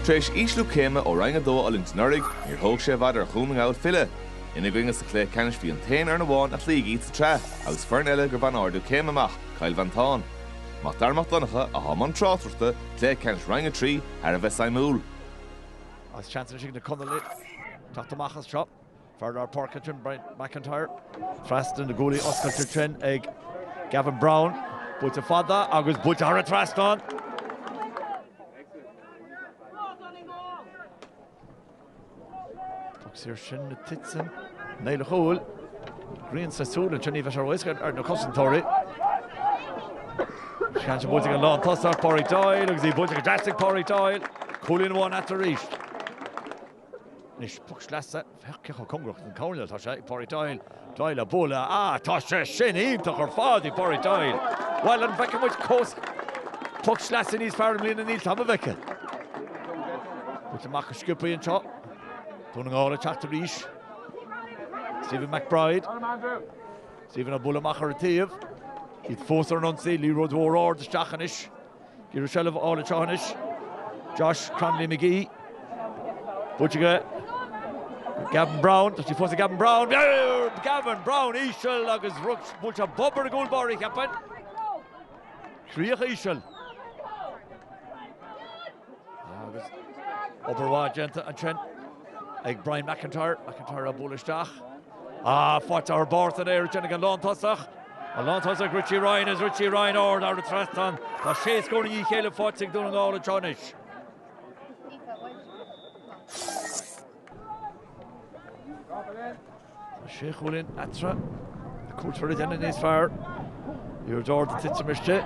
Tar éis ísliú céime ó Roinn 2 Allianz anuraidh, níor thóg sé i bhfad ar Dhún na nGall filleadh. Ina gcoinne sa chluiche ceannais bhí an t-aon fhoireann amháin a chloígh iad sa tsraith agus foireann eile gur bhain ardú céime amach, Cill Mhantáin. Mac Dara Mac Donncha atá i mbun tráchtaireachta cluiche ceannais Roinn 3 thar a bheith suimiúil. Agus seans anois ag na Conallaigh teacht amach as seo. Fear lár páirce ansin, Brian McIntyre. Trasna na gcuaillí oscailte ansin ag Gavin Browne. Buailte fada agus buailte thar an trasnán. Poc saor sin le titim i mbéal an chúil. Grian sa tsúil ansin, ní bheidh sé ró-éasca ar na cosantóirí. Seans buailte ag an lántosach, Pádraig Doyle, agus í buailte go deas ag Pádraig Doyle. Cúilín amháin eatarthu arís. Anois poc sleasa féach chomh cóngarach don choirnéal atá sé ag Pádraig Doyle. Doyle á bualadh, Ah, tá sé sin iontach ar fad, ó Phádraig Doyle. Bhuel an bhfeicfidh muid cos poc sleasa níos fearr i mbliana ní dóigh liom go bhfeicfidh. Buailte amach go sciobtha í anseo. Dún na nGall ag teacht arís. Stephen McBride. Stephen á bualadh amach ar an taobh. Iad fós ar an ionsaí, liathróid mhór ard isteach anois. Ag iarraidh seilbh á fháil anseo anois. Josh Cronolly McGee. Buailte aige. Gavin Browne. Tá sí fós ag Gavin Browne. Gavin Browne íseal agus agus buailte bob ar an gcúl báire ceapaim. Críoch íseal. Agus obair mhaith déanta ansin ag Brian McIntyre. McIntyre á bualadh isteach. Faightear beart in airde ag an lántosach. An lántosach Richie Ryan is Richie Ryan ard thar an trasnán. Tá sé scór i ndiaidh a chéile faighte ag Dún na nGall anseo anois. Tá sé chúilín eatarthu. Caithfear a dhéanamh níos fearr. Iarracht ard ag titim istigh.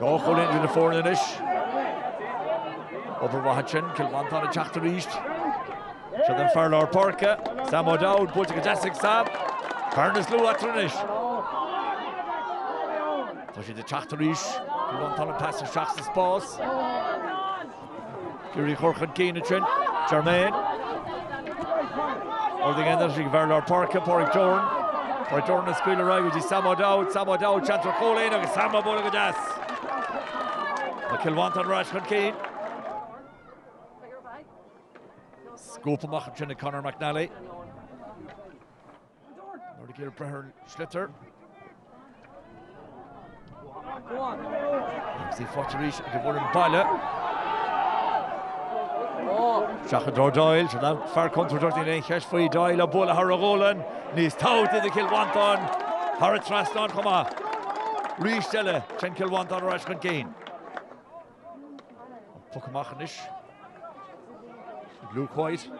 Dhá chúilín idir na foirne anois. Obair mhaith ansin, Cill Mhantáin ag teacht arís. Seo é an fear lár páirce, Sam O'Dowd, buailte go deas ag Sam. Ceann níos lú eatarthu anois. Tá siad ag teacht arís, Cill Mhantáin an pas isteach sa spás. Ag iarraidh í a chur chun cinn ansin. Germaine. Ar aghaidh anois go fear lár páirce, Pádraig Doran. Pádraig Doran á scaoileadh ar aghaidh go dtí Sam O'Dowd. Sam O'Dowd, seans ar chúilín agus Sam á bualadh go deas. Tá Cill Mhantáin ar ais chun cinn. Scuabtha amach ansin ag Conor McNally. Níor éirigh leo breith ar an sliotar. Agus í faighte arís ag an bhfoireann baile. Seo chuig Andy Doyle, seo an fear contúirteach níl aon cheist faoi Doyle ag bualadh thar a ghualainn. Cúilín eile faighte do Chill Mhantáin thar an trasnán chomh maith. Arís eile, téann Cill Mhantáin ar ais chun cinn. Poc amach anois. Luke White.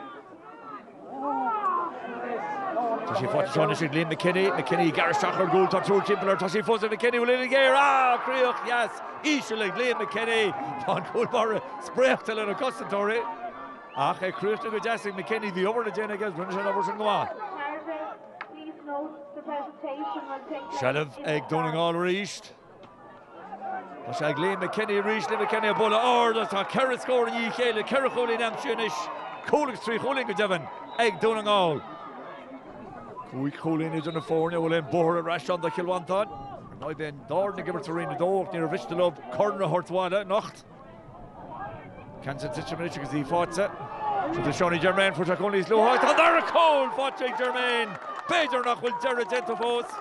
Tá sí faighte seo anois ag Liam McKinney. McKinney gar isteach ar an gcúl, tá triúr timpeall air, tá sí fós ag McKinney, buille gearr! Críoch dheas íseal ag Liam McKinney. Bhí an cúl báire spréachta leis na cosantóirí. Ach críochnaithe go deas ag McKinney, bhí obair le déanamh aige agus rinne sé an obair sin go maith. Seilbh ag Dún na nGall arís. Tá sí ag Liam McKinney arís, McKinney ag bualadh ard agus tá ceithre scór i ndiaidh a chéile, ceithre chúilín aimsithe anois, cúl agus trí chúilín go deimhin ag Dún na nGall. Cúig chúilín idir na foirne, bhfuil aon bóthar ar ais ann do Chill Mhantáin? Ní bheidh Dún na nGall ag imirt sa Roinn 2 ach níor mhiste leo corn a thabhairt abhaile anocht. Ceann sin ag titim anois agus í faighte. Seo Seanie Germain fuair sé cúl níos luaithe. Tá an dara cúl faighte ag Germain! B'fhéidir nach bhfuil deireadh déanta fós.